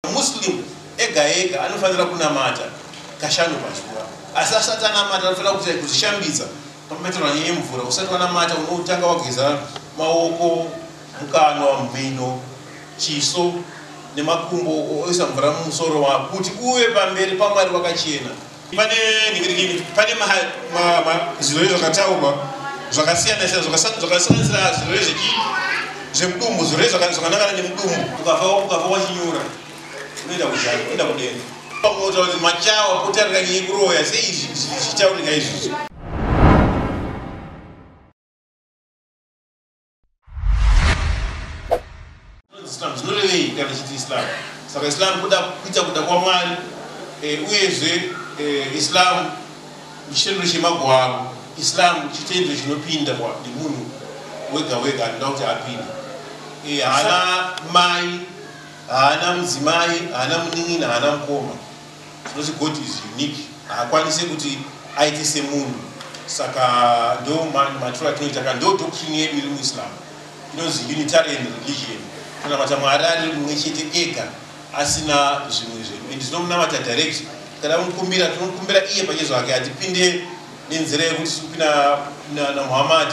Muslim ega ega anofanira kunamata kashanu pazuva asi asati anamata anofanira kuita kuzvishambidza pamhetero anyanye mvura usati wanamata unotanga wageza maoko mukanwa mhino chiso nemakumbo oisa mvura mumusoro wako kuti uve pamberi pamwari wakachena pane ningirikini pane zvirwere zvakataurwa zvakasiyana siyana zvakasanganisira zvirwere zvechii zvemudumbu zvirwere zvakanangana nemudumbu ukava wachinyura unoenda kuzhari unoenda kudenga pakunotaura kuti machawa kutarira nyinyi kuroya sei izvi zvichitaurika izvizvi Islam zvinorevei kana tichiti Islam? Saka Islam kuda kuita kuda kwaMwari e, uyezve e, Islam chitendero chemagwaro, Islam chitendero chinopindwa nemunhu wega wega anoda kuti apinde. E, haana mai, haana mudzimai, haana munin'ina, haana mukoma. Tinoti God is unique, haakwanise kuti aite semunhu. Saka ndo maturo atinoita ka ndo doctrine yedu iri muIslam inonzi Unitarian religion, kunamata Mwari ari mumwe chete ega asina zvimwe zvedu, and tinomunamata direct. Kana mukumbira tinomukumbira iye pachezo hake, hatipinde nenzira yekuti tiri kupinda naMuhammad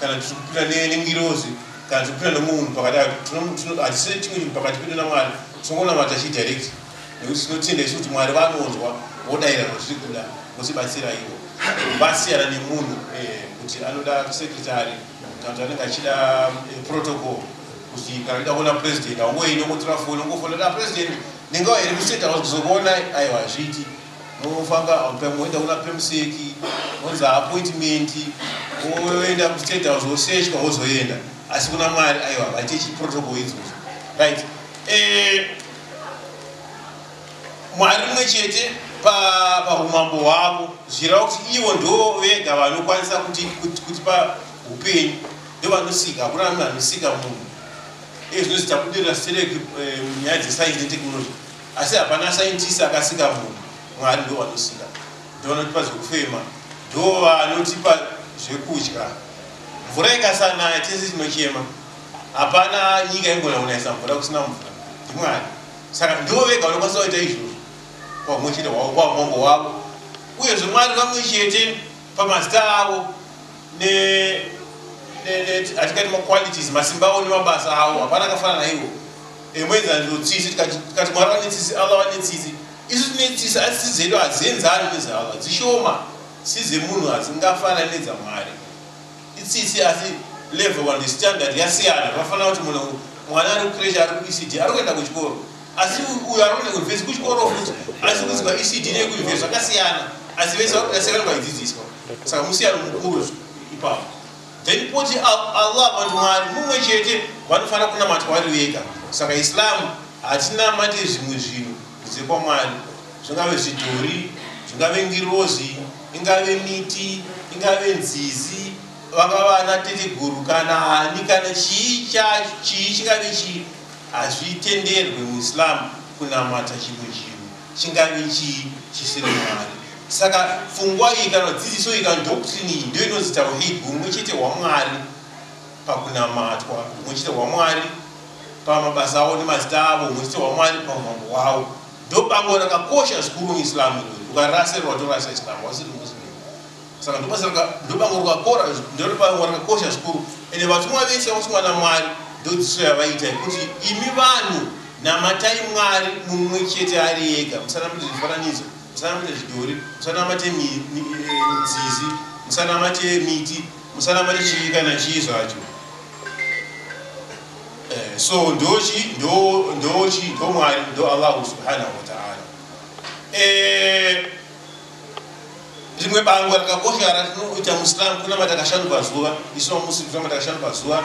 kana tiri kupinda nengirozi kana tiri kupinda nemunhu pakati, hatisi chimwe chinhu pakati pedu naMwari, tinongonamata chi direct. nekuti tinotenda isu kuti mwari vanonzwa vodaira zvazviri kuda votibatsira ivo vasiyana nemunhu eh, kuti anoda sekretary kana kuti anenge achida eh, protocol kuti kana ida kuona president aungoi nokutora foni ungofonera ah, president ndinga here kuseta kuzokuona aiwa hazviiti nofanga moenda kuna pemuseki onzi appointment oenda kustate house oseshwa ozoenda asi kuna mwari aiwa vaite chiprotocol idzozo right eh, mwari mumwe chete paumambo pa hwavo zvirava kuti ivo ndo vega vanokwanisa kuti kuti pa upenyu ndo vanosika hakuna vanhu vanosika munhu ee zvino zitabudirira stereki eh, nyaya dzesainzi netechnology asi hapana saintisi akasika munhu mwari ndo vanosika ndo vanotipa zvekufema ndo vanotipa zvekudya mvura ikasanaya tese tinochema hapana nyika ingona kunayisa mvura kusina mvura ndimwari saka ndivo vega vanokwanisa kuita izvozvo kwamwe chete hwavo kwaumambo wavo uyezve mwari vamwe chete pamazita avo atingati maqualities masimba avo nemabasa avo hapana akafana naivo emwenzaniro tsitsi tikati mwari vane tsitsi allah vane tsitsi isu tine tsitsi asi tsitsi dzedu hadzienzani nezaalla dzishoma tsitsi dzemunhu hadzingafanani nedzamwari itsitsi asi level one standard yasiyana zvafana kuti munhu mwana ari kucresh ari kuecd ari kuenda kuchikoro asi uyo ari kuenda kuuniversi kuchikoro futi asi kuziva ecd nekuuniversi zvakasiyana asi vese vakudasiyana vaidzidziswa saka musiyano mukuru ipapo then poti allah vanhu mwari mumwe chete vanofanira kunamatwa vari vega saka islam hatinamate zvimwe zvinhu kunze kwamwari zvingave zvidhori zvingave ngirozi ingave miti ingave nzizi vanga vana teteguru kana ani kana chii chacho chii chingave chii hazvitenderwe muislamu kunamata chimwe chinhu chingave chii chisiri mwari saka pfungwa iyi kana dzidziso iyi kana doctrin iyi ndo inonzi tauhid humwe chete hwamwari pakunamatwa humwe chete hwamwari pamabasa avo nemazita avo humwe chete hwamwari paumambo hwavo Ndobango rakakosha zvikuru muIslam irori. Ukaraserwa torasa Islam wasiri Muslim. Saka ndobasa raka ndobango rwakora ndobango rakakosha zvikuru. Ende vatumwa vese vakutumwa naMwari ndodziso yavaita yekuti imi vanhu namatai Mwari mumwe chete ari ega musanamate zvifananidzo musanamate zvidhori musanamate nzizi musanamate miti musanamate chii kana chii zvacho. Eh, so ndochi ndo ndochi ndo mwari ndo allahu subhanahu wataala eh, rimwe bango rakakosha ratinoita musilamu kunamata kashanu pazuva isu mamusi kunamata kashanu pazuva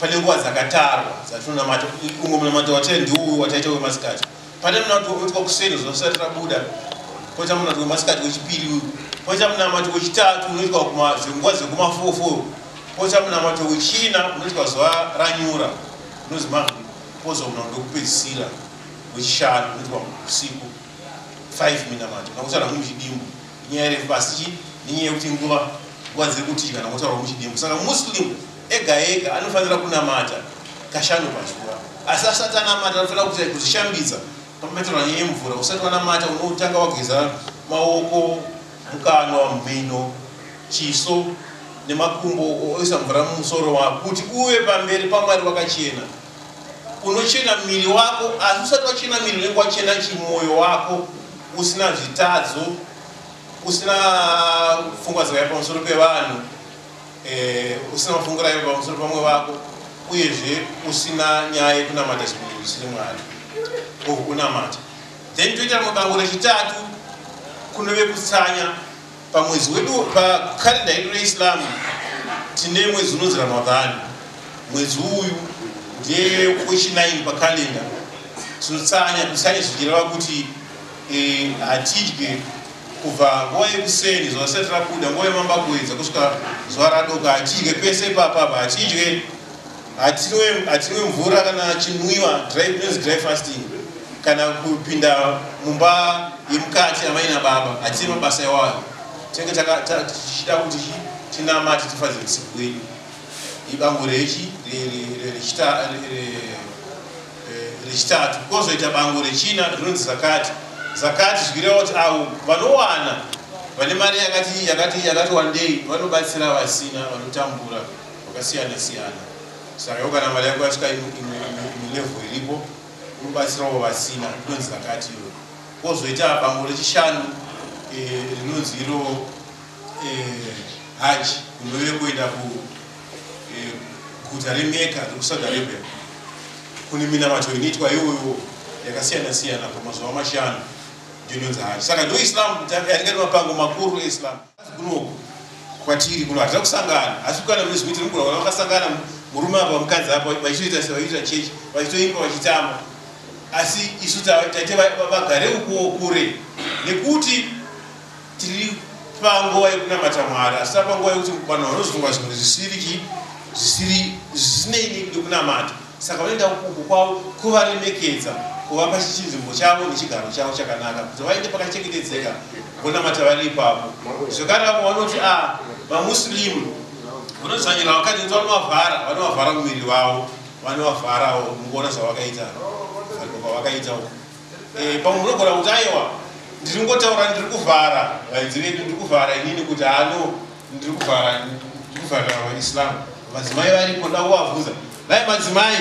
pane nguva dzakatarwa dzatinonamata umwe munamato wataita ndiuyu wataita wemasikati pane munamato wekuitwa kuseni zuva risati rabuda koita munamato wemasikati wechipiri uyu koita munamato wechitatu unoitwa nguva dzekumafofo koita munamato wechina unoitwa zuva ranyura unozi magri kozo munamato wekupedzisira wechishanu unoitwa usiku 5 minamato nakutaura muchidimbu nyaya refu pasi chi nenyaya yekuti nguva nguva dziri kutidya nakutaura muchidimbu saka muslim Ega ega anofanira kunamata kashanu pazuva, asi asati anamata anofanira kuita kuzvishambidza pamhetero hanyanya yemvura. Usati wanamata unotanga wageza maoko, mukanwa, mhino, chiso nemakumbo oisa mvura mumusoro wako kuti uve pamberi paMwari wakachena. Unochena miri wako, asi usati wachena miri unenge wachena chimwoyo wako usina zvitadzo, usina pfungwa dzakaipa pamusoro pevanhu. eh, usina kufungira ivo pamusoro pamwe vako uyezve usina nyaya yekunamata zvinhu zvisiri mwari or kunamata then toita rimwe bango rechitatu kunove kutsanya pamwedzi wedu pakarenda yedu reislam tine mwedzi unonzi ramadhani mwedzi uyu ndiye wechinaini pakalenda tinotsanya kutsanya zvichireva kuti eh, hatidye kubva nguva yekuseni zuva risati rabuda nguva yemambakuedza kusvika zuva radoka hatidye pese ipapapa hatidye hatinwe mvura kana chinwiwa inonzi dry fasting kana kupinda mumba yemukati amaina baba hatine mabasa iwayo tinenge tichida kuti tinamati tifadze musiku wedu ibango rechi rechita rechitatu kwozoita bango rechina rinonzi zakati zakati zvichireva kuti avo vanowana vane mari yakati yakati yakati wandei vanobatsira vasina vanotambura vakasiyana siyana saka yo kana mari yako yasvika imilevho iripo unobatsirawo vasina inonzi zakati iyo kwozoita bango rechishanu eh, rinonzi iro eh, haji unove kuenda ku Guta reMecca rekuSaudi Arabia kune minamato inoitwa iwoiwo yakasiyana siyana pamazuva mashanu ndinonzi haji saka ndo islam yaringati mapango makuru eislam kunoku kwatiri kuno hatida kusangana asi kana mune zvimwe tinogona kuona vakasangana murume apa mukadzi apa vachitoita sevaiita chechi vachitoimba vachitamba asi isu taite vagare ukuwo kure nekuti Tiri panguva yekunamata Mwari, asi tava panguva yekuti vanhu vanozvingwa zvinhu zvisiri chii, zvisiri zvisinei nekunamata. Saka vanoenda uku kwavo kuvaremekedza, kuvapa chinzvimbo chavo nechigaro chavo chakanaka, kuti vaende pakachengetedzeka vonamata vari ipapo. Zvekare vamwe vanoti a ah, vamuslimu vanodzvanyira vakadzi kuti vanovavhara, vanovavhara muviri vavo, vanovavharawo, mukuona zvavakaita, vakaita uku. Eh, pamwe munogona kuti aiwa ndiri kungotaura ndiri kuvhara vaidzi vedu ndiri kuvhara inini kuti ano ndiri kuvhara ndiri kuvhara vaislam madzimai varipo nda kuvabvunza dai madzimai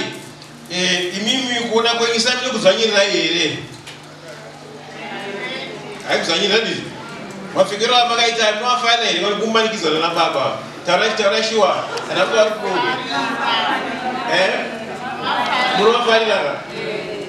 eh, imimi kuona kwenyu islam ine kudzvanyirirai here haikudzvanyirira ndizvo mapfekero amakaita anoafanira here vari kumanikidzana nababa taurai taurai shuwa kana kuva munovafanirara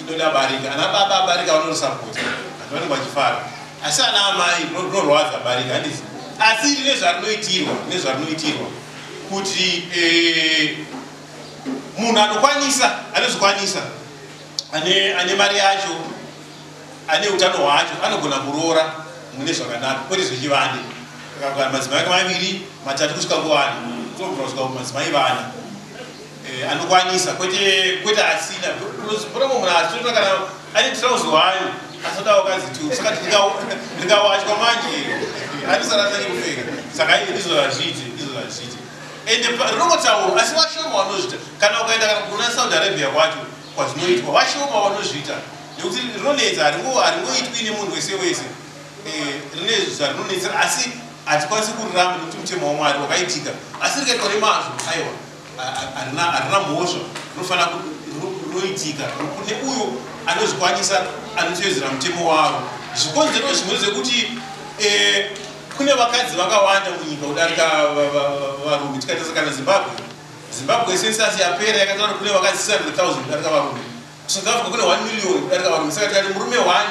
Indoda barika. Ana baba barika vanonosapota. Vanhu vanenge vachifara. Asi ana amai rinorwadza barika handisi. Asi iri nezvarinoitirwa nezvarinoitirwa kuti eh, munhu anokwanisa anozokwanisa ane, ane mari yacho ane utano hwacho anogona kuroora mune zvakanaka kwete zvechivande akagara madzimai ake maviri matatu kusvika kuvana tobvira kusvika kumadzimai vana eh, anokwanisa kwete kwete asina pona munhu asitotona kana ane trouse wayo asodawo kazi tu saka ndikawachwa manje anisarasa nekupfeka saka ii ndizvo zvazviite ndizvo zvazviite ende rinongotaurwa asi vashoma vanozviita kana ukaenda kana kuna saudi arabia kwacho kwazvinoitwa vashoma vanozviita nekuti rinonetsa haringoitwi nemunhu wese wese eh, rine zvarinonetsera asi hatikwanisi kuriramba nekuti mutemo wamwari wakaitika asi rikaitwa nemazvo aiwa harina mhosva rinofanira roitika kune uyo anozvikwanisa anotevedzera mutemo wavo zvikonzero zvimwe zvekuti eh, kune vakadzi vakawanda munyika kudarika varume tikatarisa kana zimbabwe zimbabwe sensasi yapera yakataura kune vakadzi 600000 kudarika varume south africa kune 1 million kudarika varume saka tikati murume one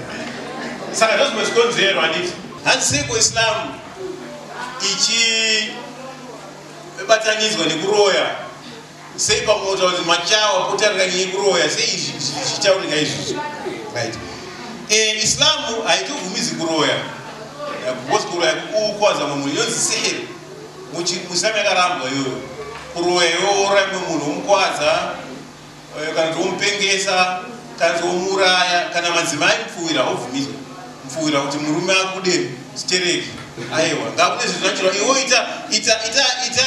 saka ndozvimwe zvikonzero handiti handisiko islamu ichibatanidzwa nekuroya sei pamoto kuti machawa kutarika nyaya kuroya sei izvi zvichitaurika izvizvi right eh, islamu haitobvumizi kuroya because kuroya kukuwadza mumwe munhu inonzi sihiri muislamu yakarambwa iyoyo kuroya yoora imwe munhu womukwadza Eh, kana kuti womupengesa kana kuti womuuraya kana madzimai mupfuwira haubvumidzwe mupfuwira kuti murume akude chitereki aiwa ngakune zvinhu zvachirwa iwo ita ita ita ita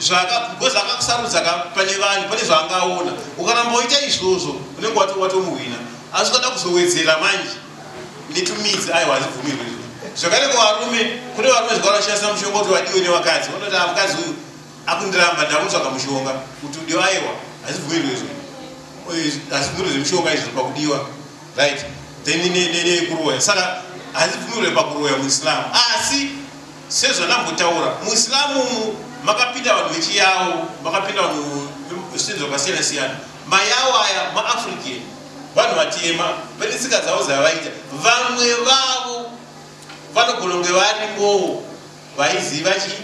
zvakagoza akakusarudza ka pane vanhu pane zvaangaona ukaramba woita izvozvo unenge watomuhwina asi ukada kuzowedzera manje netumidzi aiwa hazibvumirwe zvakare kuvarume kune varume zvakaona shandisa mushonga kuti vadiwe nevakadzi vanoti amukadzi ah, uyu Akundiramba ndakutsvaga mushonga kuti udiwa aiwa hazibvumirwe izvo eh, hazibvumirwe zvemushonga izvo pakudiwa right then nekuroya saka hazibvumirwe pakuroya muislamu asi sezvanambotaura muislamu umu makapinda vanhu vechiyawo makapinda vanhu zvisinzi zvakasiyana siyana mayawo aya maafrican vanhu vatema pane tsika dzavo dzavaita vamwe vavo vanogona kunge varimowo vaiziva chii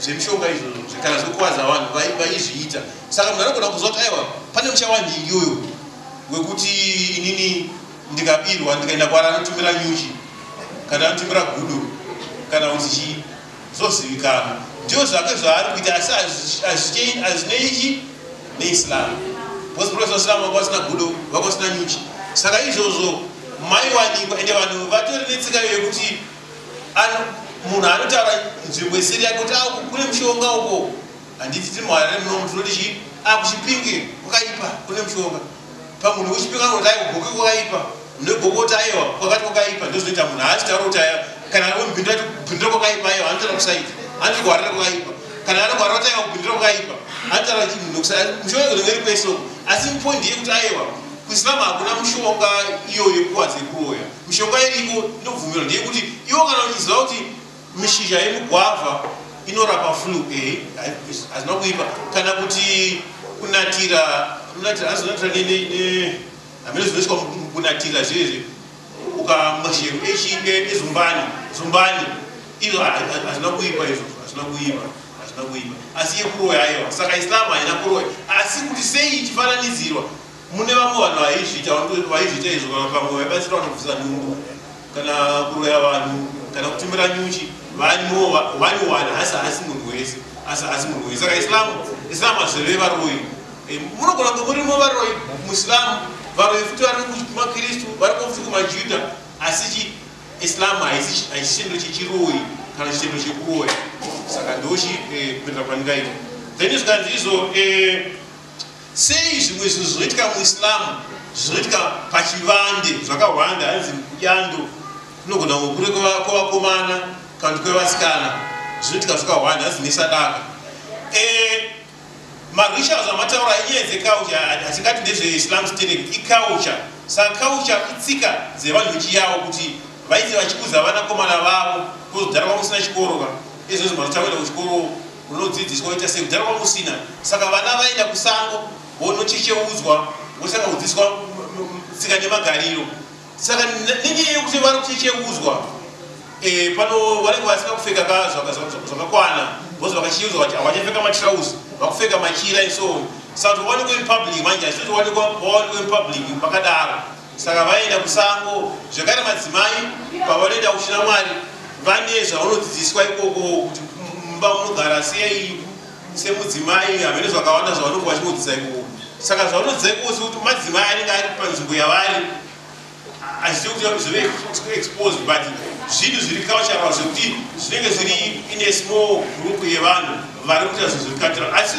zvemishonga izvozvo zvekana zvekukwadza vanhu vaizviita saka munhu anogona kuziva kuti aiwa pane muchawa nhingi uyo wekuti inini ndikabirwa ndikaenda kwara anotumira nyuchi kana anotumira gudo kana kuti chii zvozivikanwa ndiyo zvake zvaari kuita asi azvineichi neislam bcause profesa islam vanga vasina gudo vanga vasina nyuchi saka izvozvo maiwanikwa ende vanhu vatori netsika yekuti munhu anotaura nzvimbo isiri yake kuti aku kune mushonga uko handiti tiri muharare muno mnhu tinoti chii akuchipinge kwakaipa kune mushonga pamunhu uchipinga anoti aiwa goke kwakaipa mune goke kuti aiwa kwakati kwakaipa ndozinoita munhu haasi taura kuti aya kana anombindira kuti bindira kwakaipa aiwa anotaura kusaita anoti kuharare kwakaipa kana anogwara kuti aiwa kubindira kwakaipa anotaura kuti munhu kusaita mushonga kunenge ri kwesoko asi poindi yekuti aiwa kusilamu hakuna mushonga iyoyo kuwadze kuroya Mishonga iriko inobvumirwa ndeyekuti iwo kana uchiziva kuti mishizha yemugwavha inorapa flu eh, hazvina kuipa kana kuti kunatira kunatira azonatira hamene zvinoiswa kunatira zvezve ukamwa shero ezumbani zumbani izvo hazvina kuipa izvo hazvina kuipa hazvina kuipa asi yekuroya aiwa saka islamu haina kuroya asi kuti sei ichifananidzirwa Mune vamwe vanhu vaizviita vaizviita izvo kana kuti vamwe vaibatsira vanhu kubvisa nhumbu kana kuroya vanhu kana kutumira nyuchi vaiwana asi haasi munhu wese asi haasi munhu wese saka islamu islamu hazvireve varoyi eh, munogona kunge murimo varoyi muislamu varoyi futi vari kumakristu vari kufuti kumajudha asi chi islamu haisichiniro chechiroyi kana chitendo chekuroya saka ndochi eh, kuenda pandingaita then zvikanzi izvo eh, Sei zvimwe zvinhu zvinoitika muIslam zvinoitika pachivande zvakahwanda hanzi kudyando kunogona kukure kwevakomana kana kuti kwevasikana zvinoitika zvakahwanda hanzi nesadaka eh, marishals amataura inyaya dzecouture hatingati ndezveislam sterek icouture saka couture itsika dzevanhu vechiyawo kuti vaite vachikuza vanakomana vavo kozodhara kwamusina chikoro ka ezvozvo mazotawenda kuchikoro runodzidziswa woita sei kudhara kwanga usina saka vana vaenda kusango vonochecheudzwa vosaka kudzidziswa tsika nemagariro saka nenyaya yekuti vari kuchecheudzwa eh, pano vanenge vasina kupfeka ka zvakakwana vozi vakacheudzwa vati havachapfeka matrausi vakupfeka machira iso saka towanikwa in public manje hazvitowanikwa vawanikwa in public pakadaro Saka vaenda kusango zvekare madzimai pavanoenda kushira mwari vane zvavanodzidziswa ikoko kuti mumba munogara sei semudzimai havene zvakawanda zvavanonge vachinodzidza ikoko saka zvavanodzidza ikoko sekuti madzimai anenge ari panzvimbo yavari achiziva kuti zvave exposed but zvinhu zviri cultural zvekuti zvinenge zviri in a small group yevanhu vari kuita zvinhu zviri cultural asi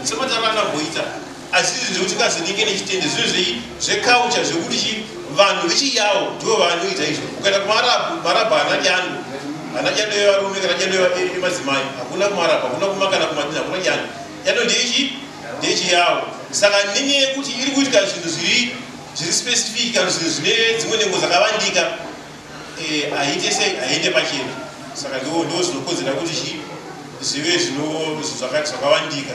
sematananamboita asi izvi zvekuti kazodike nechitende zviro zvei zvekaucha zvekuti chi vanhu vechiyawo ndivo vanoita izvo ukaenda kumarabhu marabhu haana dyando haana dyando yevarume kana dyando yemadzimai hakuna kumarabhu hakuna kuma kana kumadini hakuna dyando dyando ndechi ndechiyawo saka nenyaya yekuti iri kuitika zvinhu zviri zviri specific kana zvinhu zvine dzimwe nhengo dzakavandika eh, haite sei haende pachena saka ndo zvinokodzera kuti chi zvive zvakavandika